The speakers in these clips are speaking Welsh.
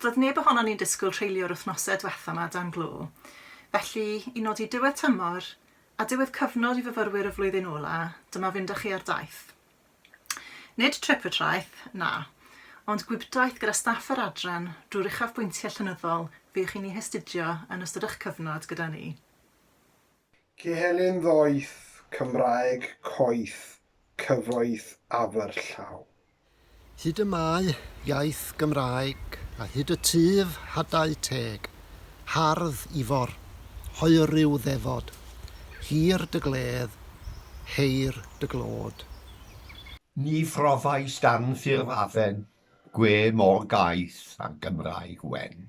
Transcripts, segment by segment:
Doedd neb ohonon ni'n disgwyl treulio'r wythnosau diwetha' 'ma dan glo, felly i nodi diwedd tymor a diwedd cyfnod i fyfyrwyr y flwyddyn ola', dyma fynd â chi ar daith. Nid trip y traeth, na, ond gwibdaith gyda staff yr adran drwy'r uchafbwyntiau llenyddol fuwch chi'n eu hastudio yn ystod eich cyfnod gyda ni. Cyhely'n ddoeth, Cymraeg coeth, cyfoeth aferllaw. Hyd y mae, iaith Gymraeg, a hyd y tyf hadau teg, hardd Ifor, hoeriw ddefod, hir dy gledd, heir dy glod. Ni phrofaist anffurf afen, gwe mor gaeth â Gymraeg wen.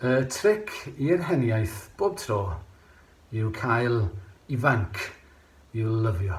Y tric i'r heniaith bob tro yw cael ifanc i'w lyfio.